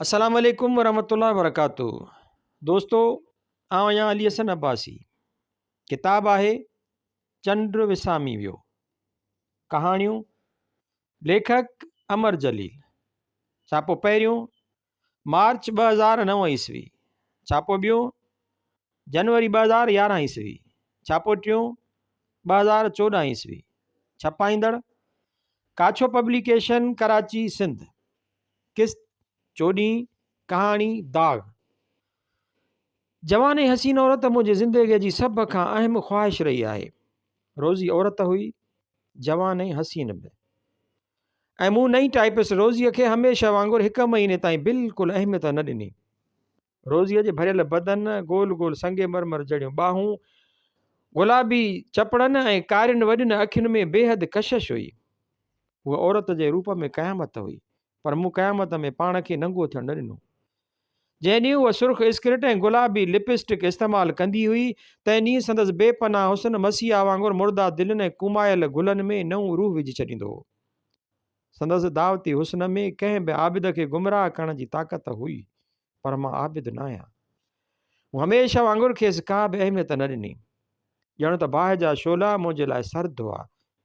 السلام عليڪم ورحمة الله وبرڪاته دوستو آئون آهيان علي حسن عباسي ڪتاب آهي چنڊ وسامي ويو ڪهاڻيون ليکڪ امر جليل ڇاپو پهريون مارچ ٻه هزار نو عيسوي ڇاپو ٻيو جنوري ٻه هزار يارهن عيسوي، ڇاپو ٽيون، ٻه هزار چوڏهن عيسوي، ڇپائيندڙ، ڪاڇو پبليڪيشن ڪراچي سنڌ، قسط، چوڏهين، ڪهاڻي، داغ، جواني حسين عورت منهنجي زندگيء جي سڀ کان اهم خواهش رهي آهي، روزي عورت هئي، جوان ۽ حسين به، ۽ مون نئين ٽائيپسٽ روزيء کي هميشه وانگر هڪ مهيني تائين بلڪل اهميت نه ڏني، روزيء جي ڀريل بدن، گول گول سنگ مرمر جهڙيون ٻانهون، گلابي چپڙن ۽ ڪارين وڏين اکين ۾ بيحد ڪشش هئي. هوء عورت جي روپ ۾ قيامت هئي، پر مون قيامت ۾ پاڻ کي ننگو ٿيڻ نه ڏنو. جنهن ڏينهن هوء سرخ اسڪرٽ ۽ گلابي لپسٽڪ استعمال ڪندي هئي، تنهن ڏينهن سندس بي پناهه حسن مسيحا وانگر مرده دلين ۽ ڪومايل گلن ۾ نئون روح وجهي ڇڏيندو هو. سندس دعوتي حسن ۾ ڪنهن به عابد کي گمراهه ڪرڻ جي طاقت هئي، پر مان عابد نه آهيان. مون هميشه وانگر کيس ڪا به اهميت نه ڏني. ڄڻ ته باهه جا شعلا منهنجي لاء سرد هئا،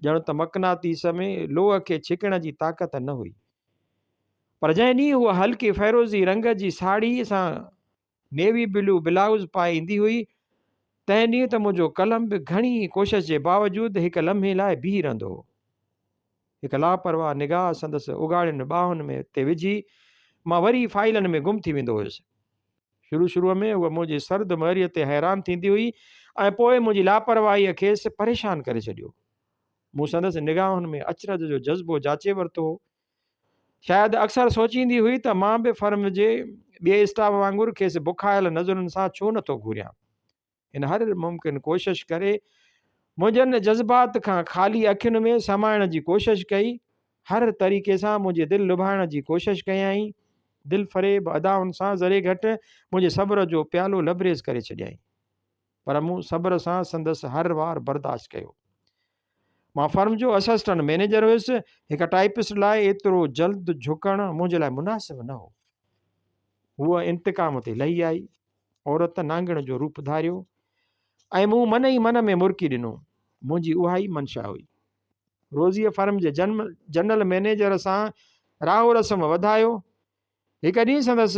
ڄڻ ته مقناطيس ۾ لوهه کي ڇڪڻ جي طاقت نه هئي. پر جنهن ڏينهن هوء هلڪي فيروزي رنگ جي ساڙهي سان نيوي بلو بلائوز پائي ايندي هئي. تنهن ڏينهن ته منهنجو قلم به گهڻي ئي ڪوشش جي باوجود هڪ لمحي لاء بيهي رهندو هو. هڪ لاپرواهه نگاهه سندس اگهاڙين ٻانهن ۾ تي وجهي مان وري فائلن ۾ گم ٿي ويندو هيس. شروع شروع ۾ هوء منهنجي سرد مهريء تي حيران ٿيندي هئي ۽ پوء منهنجي لاپرواهيء کيس پريشان ڪري ڇڏيو. مون سندس نگاهن ۾ اچرج جو جذبو جاچي ورتو هو شايد اڪثر سوچيندي هئي ته مان به فرم جي ٻئي اسٽاف وانگر کيس بکايل نظرن سان ڇو نه ٿو گهوريان. هن هر ممڪن ڪوشش ڪري منهنجن جذبات کان خالي اکين ۾ سمائڻ جي ڪوشش ڪئي، هر طريقي سان منهنجي دل لڀائڻ جي ڪوشش ڪيائين، دلفريب ادائن سان ذري گهٽ منهنجي صبر جو پيالو لبريز ڪري ڇڏيائين. پر مون صبر سان سندس هر وار برداشت ڪيو. مان فرم جو اسسٽنٽ مئنيجر هيس، هڪ ٽائيپسٽ لاء ايترو جلد جهڪڻ منهنجي لاء مناسب نه هو. هوء انتقام تي لهي آئي، عورت نانگڻ جو روپ ڌاريو ۽ مون من ئي من ۾ مرڪي ڏنو. منهنجي اها ئي منشا هئي. روزيء فرم جي جنرل مئنيجر سان راهو رسم وڌايو، هڪ ڏينهن سندس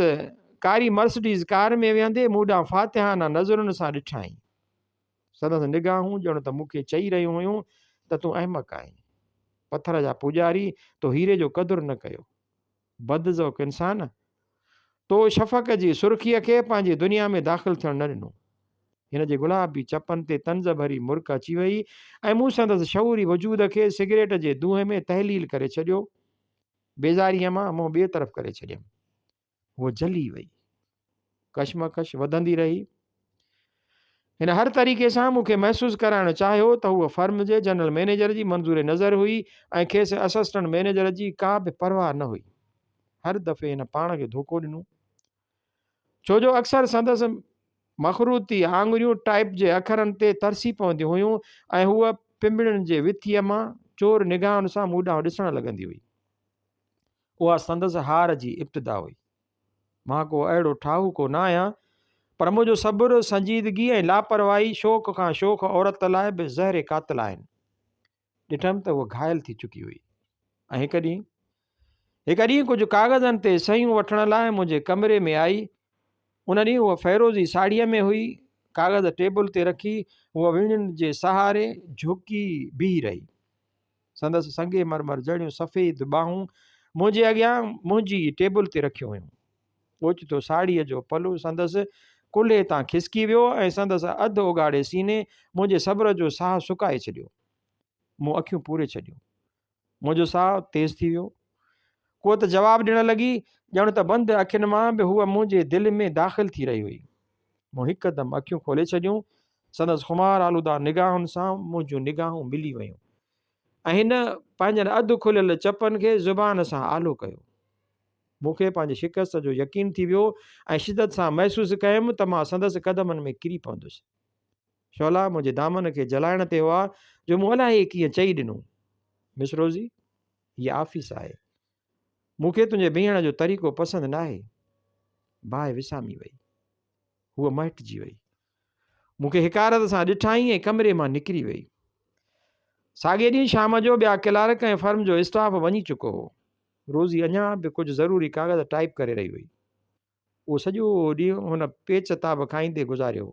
ڪاري مرسڊيز ڪار ۾ ويهندي مون ڏانهن فاتحانه نظرن سان ڏٺائين. سندس نگاهون ڄڻ ته مون کي چئي رهيون هيون ته تون احمق آهين. پٿر جا پوڄاري تو هيري جو قدر نه ڪيو. بد ذوق انسان! تو شفق جي سرخيء کي پنهنجي دنيا ۾ داخل ٿيڻ نه ڏنو. هن جي گلابي چپن تي طنز ڀري مرڪ اچي ويئي ۽ مون سندس شعوري وجود کي سگريٽ جي دونهين ۾ تحليل ڪري ڇڏيو. بيزاريء مان منهن ٻئي طرف ڪري ڇڏيم. هوء جلي وئي. ڪشمڪش وڌندي رهي. هن هر طريقي سان مون کي محسوس ڪرائڻ چاهيو ته هوء فرم جي جنرل مئنيجر جي منظور نظر هئي ۽ کيس اسسٽنٽ مئنيجر جي ڪا به پرواهه نه هئي. هر دفعي هن پاڻ کي ڌوڪو ڏنو. ڇو جو اڪثر سندس مخروطي آڱريون ٽائپ جي اکرن تي ترسي پونديون هيون ۽ هوء پنبڻين جي وٿيء مان چور نگاهن سان مون ڏانهن ڏسڻ لڳندي هئي. اها سندس هار جي ابتدا هئي. مان ڪو اهڙو ٺاهوڪو نه آهيان، پر منهنجو صبر، سنجيدگي ۽ لاپرواهي شوخ کان شوخ عورت لاء به زهر قاتل آهن. ڏٺم ته هوء گهائل ٿي چڪي هئي ۽ هڪ ڏينهن هڪ ڏينهن ڪجهه ڪاغذن تي صحيحون وٺڻ لاء منهنجي ڪمري ۾ آئي ان ڏينهن هوء فيروزي ساڙهيء ۾ هئي ڪاغذ ٽيبل تي رکي هوء ويڙهين جي سهاري جهڪي بيهي رهي سندس سنگي مرمر جهڙيون سفيد ٻانهون منهنجي اڳيان منهنجي ٽيبل تي رکيون هيون اوچتو ساڙهيء جو پلو سندس ڪلهي تان کسڪي ويو ۽ سندس اڌ اوڳاڙي سيني منهنجي صبر جو ساهه سڪائي ڇڏيو. مون اکيون پوري ڇڏيون. منهنجو ساهه تيز ٿي ويو. هوء ته جواب ڏيڻ لڳي، ڄڻ ته بند اکين مان به هوء منهنجي دل ۾ داخل ٿي رهي هئي. مون هڪدم اکيون کولي ڇڏيون. سندس خمار آلوده نگاهن سان منهنجون نگاهون ملي ويون. ۽ هن پنهنجن اڌ کليل چپن کي زبان سان آلو ڪيو. مون کي پنهنجي شڪست جو يقين ٿي ويو ۽ شدت سان محسوس ڪيم ته مان سندس قدمن ۾ ڪري پوندس. شعلا منهنجي دامن کي جلائڻ تي هئا جو مون الاهي ڪيئن چئي ڏنو، مس روزي، هيء آفيس آهي. مون کي تنهنجي بيهڻ جو طريقو پسند ناهي. باهه وسامي وئي. هوء مهٽجي وئي. مون کي حقارت سان ڏٺائين ۽ ڪمري مان نڪري وئي. ساڳئي ڏينهن شام جو ٻيا ڪلارڪ ۽ فرم جو اسٽاف وڃي چڪو هو. روزي اڃا به ڪجهه ضروري ڪاغذ ٽائيپ ڪري رهي هئي. اهو سڄو ڏينهن هن پيچ تاب کائيندي گذاريو هو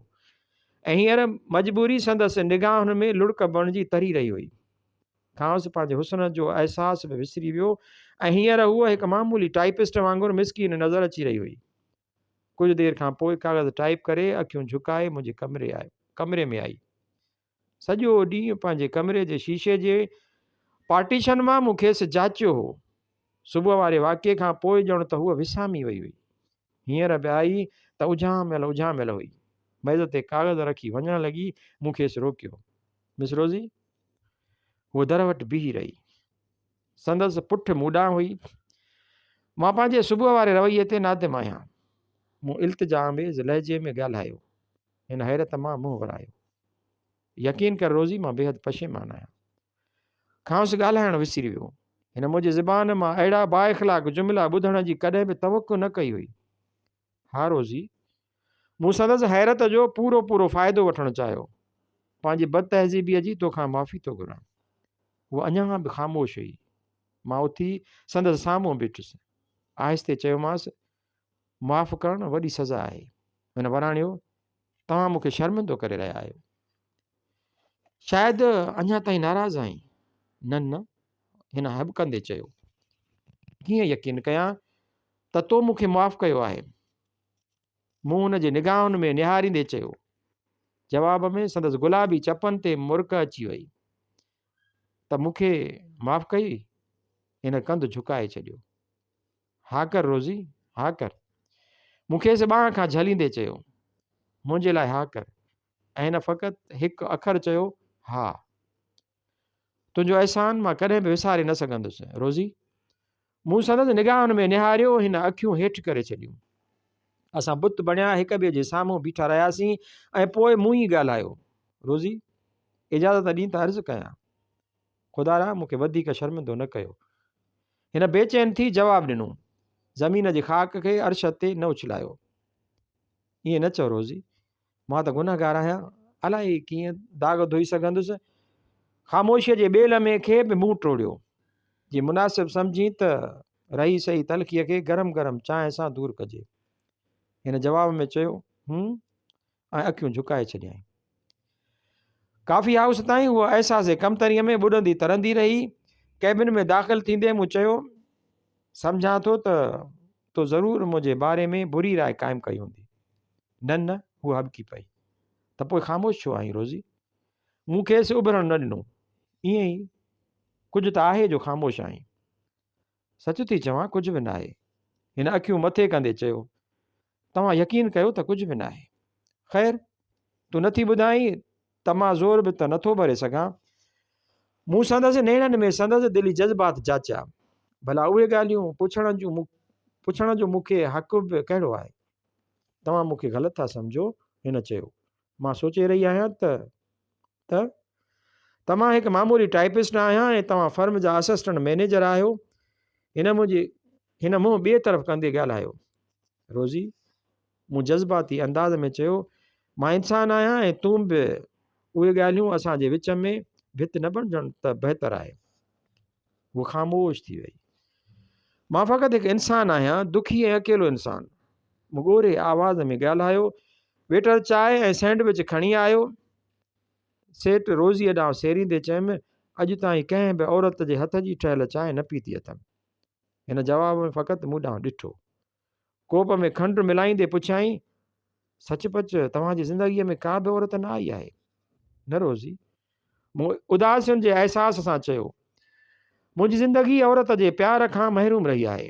۽ هينئر مجبوري سندس نگاهن ۾ لڙڪ بڻجي تري رهي هئي. کانئس پنهنجي حسن جو احساس به وسري ويو ۽ هينئر هوء هڪ معمولي ٽائيپسٽ وانگر مسڪين نظر اچي رهي هئي. ڪجهه دير کان پوء ڪاغذ ٽائيپ ڪري اکيون جهڪائي منهنجي ڪمري آئي ڪمري ۾ آئي سڄو ڏينهن پنهنجي ڪمري جي شيشي جي پارٽيشن مان مون کيس جاچيو هو صبح واري واقعي کان پوء ڄڻ ته هوء وسامي وئي هئي هينئر به آئي ته اجهاميل اجهاميل هئي ميز تي ڪاغذ رکي وڃڻ لڳي مون کيس روڪيو مس روزي هوء در وٽ بيهي رهي سندس پٺ مون ڏانهن هئي. مان پنهنجي صبح واري رويي تي نادم آهيان. مون التجا آميز لهجي ۾ ڳالهايو. هن حيرت مان منهن ورايو. يقين ڪر روزي مان بيحد پشيمان آهيان. کانئس ڳالهائڻ وسري ويو. هن منهنجي زبان مان اهڙا با اخلاق جملا ٻڌڻ جي ڪڏهن به توقع نه ڪئي هئي. ها روزي! مون سندس حيرت جو پورو پورو فائدو وٺڻ چاهيو. پنهنجي بد تهذيبيء جي تو کان معافي ٿو گهران. هوء اڃا به خاموش هئي. مان اٿي سندس سامهون بيٺس. آهستي چيومانس، معاف ڪرڻ وڏي سزا آهي. هن وراڻيو، توهان مون کي شرمندو ڪري رهيا آهيو. شايد اڃا تائين ناراض آهين؟ نه نه! هن هٻڪندي چيو. ڪيئن يقين ڪيان ته تو مون کي معاف ڪيو آهي. مون هن جي نگاهن ۾ نهاريندي چيو. جواب ۾ سندس گلابي چپن تي مرڪ اچي وئي. ته مون کي معاف ڪئي؟ هن ڪنڌ جهڪائي ڇڏيو. ها ڪر روزي، ها ڪر. مون کيس ٻانهن کان جهليندي چيو. منهنجي لاء ها ڪر. ۽ هن فقط هڪ اکر چيو، ها. تنهنجو احسان مان ڪڏهن به وساري نه سگهندس. روزي! مون سندس نگاهن ۾ نهاريو، هن اکيون هيٺ ڪري ڇڏيون. اسان بت بڻيا هڪ ٻئي جي سامهون بيٺا رهياسين ۽ پوء مون ئي ڳالهايو، روزي! اجازت ڏين ته عرض ڪيان. خدا را! مون کي وڌيڪ شرمندو نه ڪيو. هن بي چين ٿي جواب ڏنو. زمين جي خاڪ کي عرش تي نه اڇلايو. ائين نه چئو روزي! مان ته گنهگار آهيان، الائي ڪيئن داغ ڌوئي سگهندس. خاموشيء جي ٻي لمحي کي به منهن ٽوڙيو. جي مناسب سمجهين ته رهي سهي تلخيء کي گرم گرم چانهه سان دور ڪجي. هن جواب ۾ چيو، هون، ۽ اکيون جهڪائي ڇڏيائين. ڪافي هائوس تائين هوء احساس ڪمتريء ۾ ٻڏندي ترندي رهي. ڪيبن ۾ داخل ٿيندي مون چيو، سمجهان ٿو ته تو ضرور منهنجي باري ۾ بري راء قائم ڪئي هوندي. نه نه! هوء هٻڪي پئي. ته پوء خاموش ڇو آهين روزي؟ مون کيس اڀرڻ نه ڏنو. ائين ئي ڪجهه ته آهي جو خاموش آهين. سچ ٿي چوان ڪجهه به ناهي. هن اکيون مٿي ڪندي چيو. توهان يقين ڪيو ته ڪجهه به ناهي. خير! تون نٿي ٻڌائين ته مان زور به ته نٿو ڀري سگهان. مون سندس نيڻن ۾ سندس دلي جذبات جاچيا. ڀلا اهي ڳالهيون پڇڻ جون پڇڻ جو مون کي حق به ڪهڙو آهي؟ توهان مون کي غلط ٿا سمجهو، هن چيو. مان سوچي رهي آهيان ته ته ته مان هڪ معمولي ٽائيپسٽ آهيان ۽ توهان فرم جا اسسٽنٽ مئنيجر آهيو. هن منهنجي هن منهن ٻئي طرف ڪندي ڳالهايو. روزي! مون جذباتي انداز ۾ چيو، مان انسان آهيان ۽ تون به. اهي ڳالهيون اسان جي وچ ۾ ڀت نه بڻجڻ ته بهتر آهي. هوء خاموش ٿي ويئي. مان فقط هڪ انسان آهيان، دکي ۽ اڪيلو انسان. مون ڳوري آواز ۾ ڳالهايو، ويٽر چاء ۽ سينڊوچ کڻي آيو. سيٽ روزيء ڏانهن سيريندي چيم، اڄ تائين ڪنهن به عورت جي هٿ جي ٺهيل چانهه نه پيتي اٿم. هن جواب ۾ فقط مون ڏانهن ڏٺو. ڪوپ ۾ کنڊ ملائيندي پڇيائين، سچ پچ توهان جي زندگيء ۾ ڪا به عورت نه آئي آهي؟ نه روزي، مون اداسين جي احساس سان چيو، منهنجي زندگي عورت جي پيار کان محروم رهي آهي.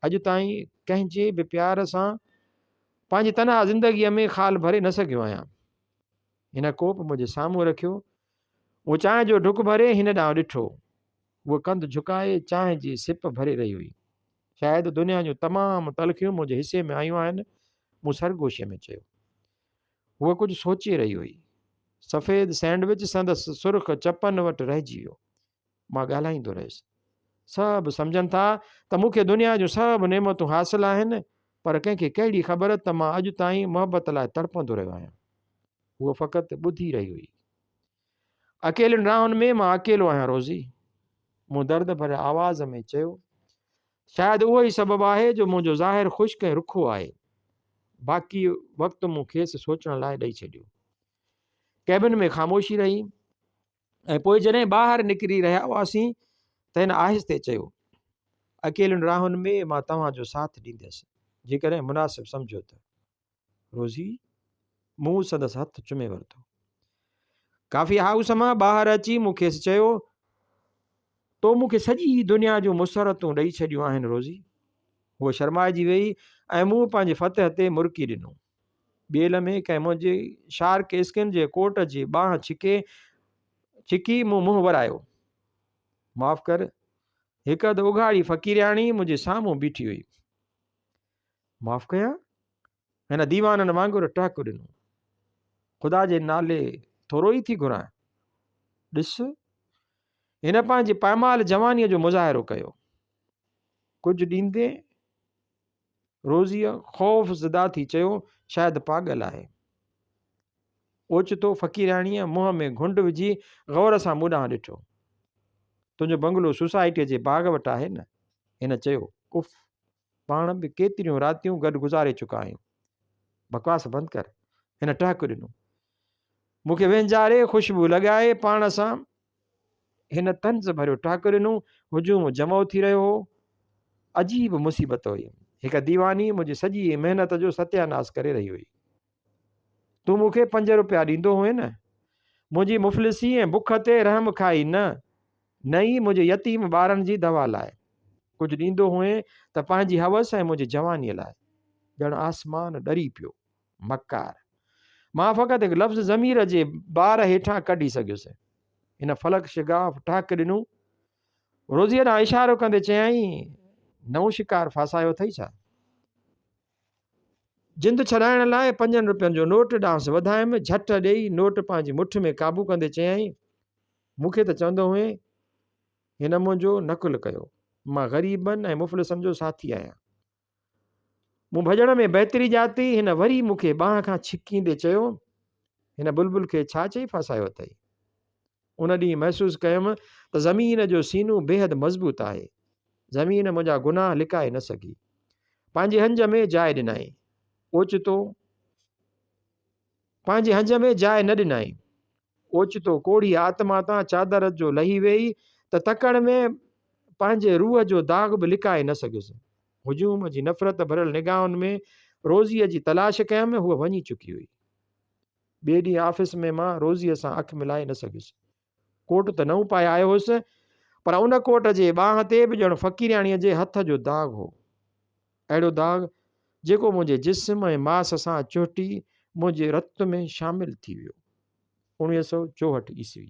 اڄ تائين ڪنهن جي به پيار سان پنهنجي تنها زندگيء ۾ خال ڀري نه سگهيو آهيان. هن ڪوپ منهنجي سامهون رکيو. مون چانهه جو ڍڪ ڀري هن ڏانهن ڏٺو. هوء ڪنڌ جهڪائي چانهه جي سپ ڀري رهي هئي. شايد دنيا جون تمام تلخيون منهنجي حصي ۾ آيون آهن، مون سرگوشيء ۾ چيو. هوء ڪجهه سوچي رهي هئي. سفيد سينڊوچ سندس سرخ چپن وٽ رهجي ويو. مان ڳالهائيندو رهيس. سڀ سمجهن ٿا ته مون کي دنيا جون سڀ نعمتون حاصل آهن، پر ڪنهن کي ڪهڙي خبر ته مان اڄ تائين محبت لاء تڙپندو رهيو آهيان. هوء فقط ٻڌي رهي هئي. اڪيلين راهن ۾ مان اڪيلو آهيان روزي، مون درد ڀريل آواز ۾ چيو. شايد اهو ئي سبب آهي جو منهنجو ظاهر خشڪ ۽ رکو آهي. باقي وقت مون کيس سوچڻ لاء ڏئي ڇڏيو. ڪيبن ۾ خاموشي رهي ۽ پوء جڏهن ٻاهر نڪري رهيا هئاسين ته هن آهستي چيو، اڪيلين راهن ۾ مان توهان جو ساٿ ڏينديس، جيڪڏهن مناسب سمجهو ته. روزي منهن سندس هٿ چمي ورتو. ڪافي هائوس مان ٻاهر اچي مون کيس چيو، تو مون کي سڄي دنيا جون مسرتون ڏئي ڇڏيون آهن روزي. هوء شرمائجي ويئي ۽ مون پنهنجي فتح تي مرڪي ڏنو. ٻئي لمحي ڪنهن منهنجي شارڪ اسڪن جي ڪوٽ جي ٻانهن ڇڪي ڇڪي مون منهن ورايو. معاف ڪر، هڪ اڌ اگهاڙي فقيرياڻي منهنجي سامهون بيٺي هئي. معاف ڪيان؟ هن ديوانن وانگر ٽهڪ ڏنو. خدا جي نالي ٿورو ئي ٿي گهران. ڏس، هن پنهنجي پائمال جوانيء جو مظاهرو ڪيو. ڪجهه ڏيندي روزيء خوف زده ٿي چيو، شايد پاڳل آهي. اوچتو فقيرياڻيء منهن ۾ گهنڊ وجهي غور سان مون ڏانهن ڏٺو. تنهنجو بنگلو سوسائٽيء جي باغ وٽ آهي نه؟ هن چيو، اف! پاڻ به ڪيتريون راتيون گڏ گذاري چڪا آهيون. بڪواس بند ڪر. هن ٽهڪ ڏنو. مون کي وهنجاري خوشبو لڳائي پاڻ سان هن طنز ڀريو ٽهڪ ڏنو. هجوم جمع ٿي رهيو هو. عجيب مصيبت هئي. هڪ ديواني منهنجي سڄي محنت جو ستياناس ڪري رهي هئي. تون مون کي پنج روپيا ڏيندو هئين نه؟ منهنجي مفلسي ۽ بک تي رحم کائي نه، نه ئي منهنجي يتيم ٻارن جي دوا لاء. ڪجهه ڏيندو هئين ته پنهنجي حوس ۽ منهنجي جوانيء لاء. ڄڻ آسمان ڏري پيو. مڪار! مان فقط هڪ لفظ ضمير جي بار هيٺان ڪڍي سگهيس. هن فلڪ شگاف ٽهڪ ڏنو. روزيء ڏانهن اشارو ڪندي چيائين، نئون شڪار ڦاسايو اٿئي ڇا؟ جند ڇڏائڻ لاء پنجن روپين جو نوٽ ڏانهس وڌايم، جهٽ ڏيئي نوٽ پنهنجي مٺ ۾ قابو ڪندي چيائين، مون کي ته چوندو هئين، هن منهنجو نقل ڪيو، مان غريبن ۽ مفلسن جو ساٿي آهيان. مون ڀڄڻ ۾ بهتري ڄاتي، هن وري مون کي ٻانهن کان ڇڪيندي چيو، هن بلبل کي ڇا چئي ڦاسايو اٿئي؟ ان ڏينهن محسوس ڪيم ته زمين جو سينو بيحد مضبوط آهي. زمين منهنجا گناهه لڪائي نه سگهي. پنهنجي هنج ۾ جاء ڏنائين. اوچتو پنهنجي هنج ۾ جاء نه ڏنائين. اوچتو ڪوڙهي آتما تان چادر جو لهي ويئي ته تڪڙ ۾ پنهنجي روح جو داغ به لڪائي نه سگهيس. هجوم جي نفرت ڀريل نگاهن ۾ روزيء جي تلاش ڪيم، هوء وڃي چڪي هئي. ٻئي ڏينهن آفيس ۾ مان روزيء سان اک ملائي نه سگهيس. ڪوٽ ته نئون پائي آيو هوس، پر ان ڪوٽ جي ٻانهن تي به ڄڻ فقيرياڻيء جي هٿ جو داغ هو. اهڙو داغ، جيڪو منهنجي جسم ۽ ماس سان چهٽي منهنجي رت ۾ شامل ٿي ويو. اوڻيهه سؤ چوهٺ عيسوي.